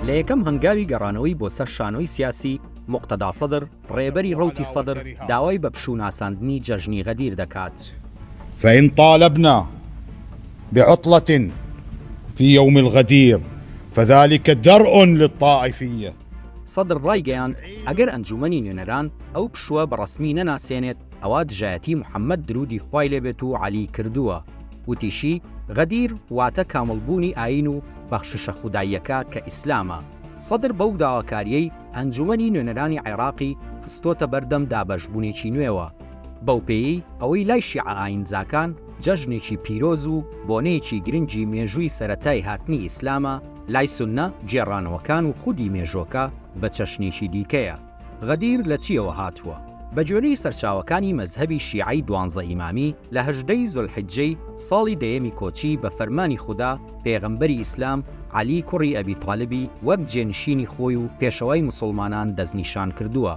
لە یەکەم هەنگاوی گەڕانەوەی بۆ سەر شانۆی سیاسی، موقتەدا سەدر، ڕێبەری ڕەوتی سەدر داوای بە پشوو ناساندنی جەژنی غەدیر دەکات. فان طالبنا بعطلە فی یوم الغدیر فذلک درء للطائفیە. سەدر ڕایگەیاند، ئەگەر ئەنجوومەنی نوێنەران ئەو پشووە بە ڕەسمی نەناسێنێت، ئەوا دژایەتی محمد درودی خوای لێ بێت و عەلی کردووە، وتیشی، غەدیر واتە کامڵ بوونی ئایین و بەخششە خوداییەکە کە ئیسلامە. سەدر بەو داواکاریەی ئەنجومەنی نوێنەرانی عێراقی خستۆتە بەردەم دابەش بونێکی نوێوە، بەو پێیەی ئەوەی لای شیعە ئایینزاکان جەژنێکی پیرۆز و بۆنەیەکی گرنگی مێژووی سەرەتای هاتنی ئیسلامە، لای سوننە گێڕانەوەکان و خودی مێژۆکە بە چەشنێکی دیکەیە. غەدیر لە چییەوە هاتووە؟ بە گوێرەی سەرچاوەکانی مەزهەبی شیعەی دوانزە ئیمامی، لە هەژدەی زولحیجەی ساڵی دەیەمی کۆچی بە فەرمانی خودا پێغەمبەری ئیسلام، عەلی کوڕی ئەبی تالیبی وەک جێنشینی خۆی و پێشەوای موسوڵمانان دەستنیشان کردووە.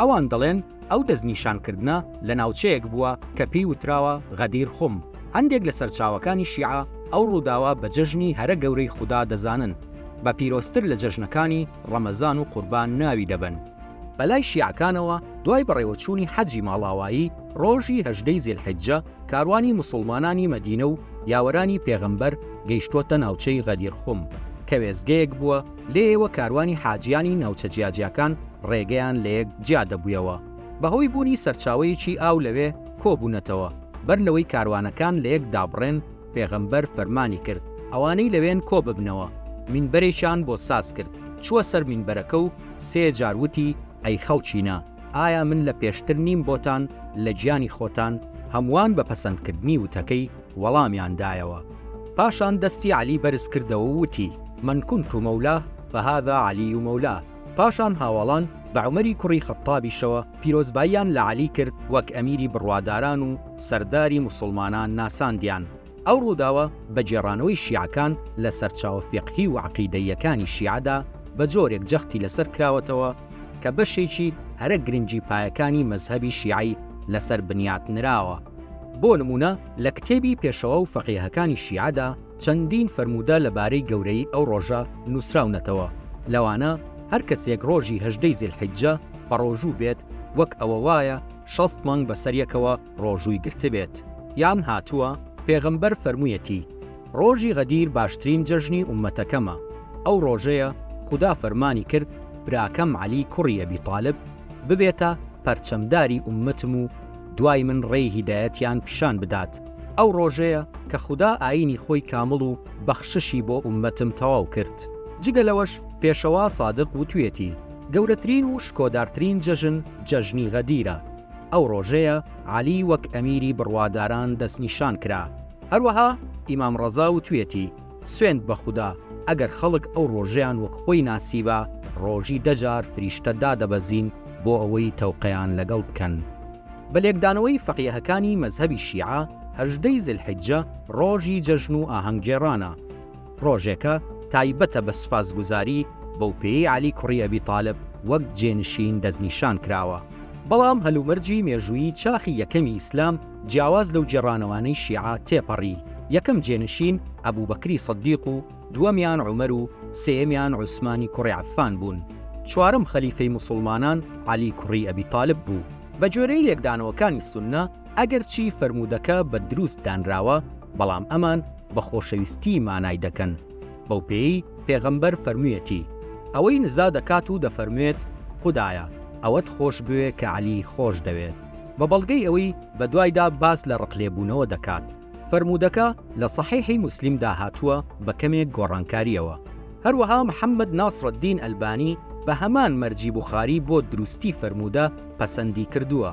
ئەوان دەڵێن ئەو دەستنیشانکردنە لە ناوچەیەک بووە کە پێی وتراوە غەدیر خوم. هەندێک لە سەرچاوەکانی شیعە ئەو ڕووداوە بە جەژنی هەرە گەورەی خودا دەزانن، بە پیرۆزتر لە جەژنەکانی، ڕەمەزان و قوربان ناوی دەبەن. بەلای شیعەکانەوە دوای بەڕێوەچوونی حەجی ماڵاوایی ڕۆژی هەژدەی زیلحیجە کاروانی موسوڵمانانی مەدینە و یاوەرانی پێغەمبەر گەیشتووەتە ناوچەی غەدیر خوم کە وێستگەیەک بووە لێیەوە کاروانی حاجییانی ناوچە جیاجیاکان ڕێگەیان لەیەک جیا دەبوویەوە بەهۆی بوونی سەرچاوەیەکی ئاو لەوێ کۆبوونەتەوە بەر لەوەی کاروانەکان لەیەک دابڕێن پێغەمبەر فەرمانی کرد ئەوانەی لەوێن کۆ ببنەوە، مینبەرێکیان بۆ ساز کرد، چووە سەر مینبەرەکە و سێ جار وتی، ئەی خەڵکینە! ئایا من لە پێشتر نیم بۆتان لە گیانی خۆتان؟ هەمووان بە پەسەندکردنی وتەکەی وەڵامیان دایەوە. پاشان دەستی عەلی بەرز کردەوە و وتی، من کنت مولاه فهذا علی مولاه. پاشان هاواڵان بە عومەری کوڕی خەتتابیشەوە پیرۆزباییان لە عەلی کرد وەک ئەمیری بڕواداران و سەرداری موسڵمانان ناساندیان. ئەو ڕووداوە بە گێڕانەوەی شیعەکان لە سەرچاوە فیقهی و عەقیدەییەکانی شیعەدا بە جۆرێک جەختی لەسەر کراوەتەوە کە بەشێکی هەرە گرنگی پایەکانی مەزهەبی شیعەی لەسەر بنیات نراوە. بۆ نموونە لە کتێبی پێشەوا و فەقێهەکانی شیعەدا، چەندین فەرموودە لە بارەی گەورەیی ئەو ڕۆژە نووسراونەتەوە، لەوانە، هەر کەسێک ڕۆژی هەژدەی زیلحیجە بەڕۆژوو بێت، وەک ئەوە وایە شەست مانگ بەسەریەکەوە ڕۆژووی گرتبێت. یان هاتووە، پێغەمبەر فەرموویەتی، ڕۆژی غەدیر باشترین جەژنی ئوممەتەکەمە، ئەو ڕۆژەیە خودا فەرمانی کرد براکەم عەلی کوڕی ئەبی تالب ببێتە پەرچەمداری ئوممەتم و، دوای من ڕێی هیدایەتیان پیشان بدات، ئەو ڕۆژەیە کە خودا ئایینی خۆی کامڵ و بەخششی بۆ ئوممەتم تەواو کرد. جگە لەوەش پێشەوا سادق وتویەتی، گەورەترین و شکۆدارترین جەژن جەژنی غەدیرە، ئەو ڕۆژەیە عەلی وەک ئەمیری بڕواداران دەستنیشان کرا. هەروەها ئیمام ڕەزا وتویەتی. سوێند بە خودا ئەگەر خەڵک ئەو ڕۆژەیان وەک خۆی ناسیبا ڕۆژی دە جار فریشتە دادەبەزین بۆ ئەوەی تەوقەیان لەگەڵ بکەن. بە لێکدانەوەی فەقیهەکانی مەزهەبی شیعە هەژدە ی زیلحیجە ڕۆژی جەژن و ئاهەنگگێڕانە. ڕۆژێکە تایبەتە بە سوپاسگوزاری، بەو پێیەی عەلی کوڕی ئەبی تالب وەک جێنشین دەستنیشان کراوە. بەڵام هەلومەرجی مێژوویی چاخی یەکەمی ئیسلام، جیاواز لەو گێڕانەوانەی شیعە تێپەڕی، یەکەم جێنشین ئەبوبەکری سدیق و دووەمیان عومەر و سێیەمیان عوسمانی کوڕی عەفان بوون. چوارەم خەلیفەی موسوڵمانان عەلی کوڕی ئەبی تالب بوو. بە گوێرەی لێکدانەوەکانی سوننە، ئەگەرچی فەرموودەکە بە دروست دانراوە، بەڵام ئەمان بە خۆشەویستی مانای دەکەن. بەو پێیەی پێغەمبەر فەرموویەتی، ئەوەی نزا دەکات و دەفەرموێت، خودایە، ئەوەت خۆش بوێ کە عەلی خۆش دەوێت. بە بەڵگەی ئەوەی بە دوایدا باس لە ڕقلێبوونەوە دەکات، فەرموودەکە لە سەحیحی موسلیمدا هاتووە بە کەمێک گۆڕانکارییەوە. هەروەها محەممەد ناسرەددین ئەلبانی بە هەمان مەرجی بوخاری بۆ دروستی فەرموودە پەسەندی کردووە.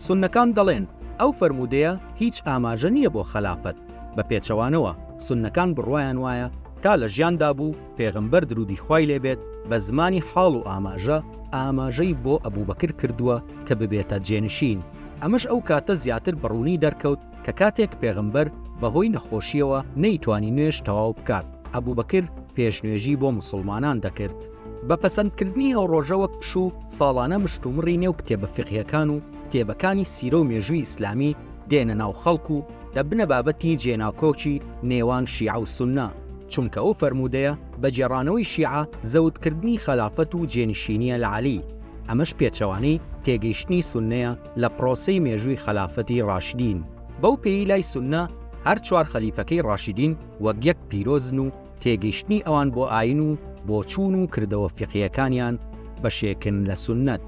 سوننەکان دەڵێن، ئەو فەرموودەیە هیچ ئاماژە نییە بۆ خەلافەت، بە پێچەوانەوە سوننەکان بڕوایان وایە تا لە ژیاندا بوو، پێغەمبەر دروودی خوای لێ بێت بە زمانی حاڵ و ئاماژە ئاماژەی بۆ ئەبوبەکر کردووە کە ببێتە جێنشین، ئەمەش ئەو کاتە زیاتر بە ڕوونی دەرکەوت کە کاتێک پێغەمبەر بە هۆی نەخۆشییەوە نەیتوانی نوێژ تەواو بکات، ئەبوبەکر پێش نوێژی بۆ موسڵمانان دەکرد. بە پەسەند کردنی ئەو ڕۆژە وەک پشوو، ساڵانە مشتومڕی نێو کتێبە فیقهیەکان و کتێبەکانی سیرە و مێژووی ئیسلامی دێنە ناو خەڵک و، دەبنە بابەتی جێناکۆکی نێوان شیعە و سوننە، چونکە ئەو فەرموودەیە بە گێڕانەوەی شیعە زەوتکردنی خەلافەت و جێنشینییە لە عەلی، ئەمەش پێچەوانەی تێگەیشتنی سوننەیە لە پرۆسەی مێژووی خەلافەتی ڕاشدین. بەو پێیی لای سوننە هەر چوار خەلیفەکەی ڕاشدین وەک یەک پیرۆزن و تێگەیشتنی ئەوان بۆ ئایین و بۆچوون و کردەوە فیقهییەکانیان بەشێکن لە سوننەت.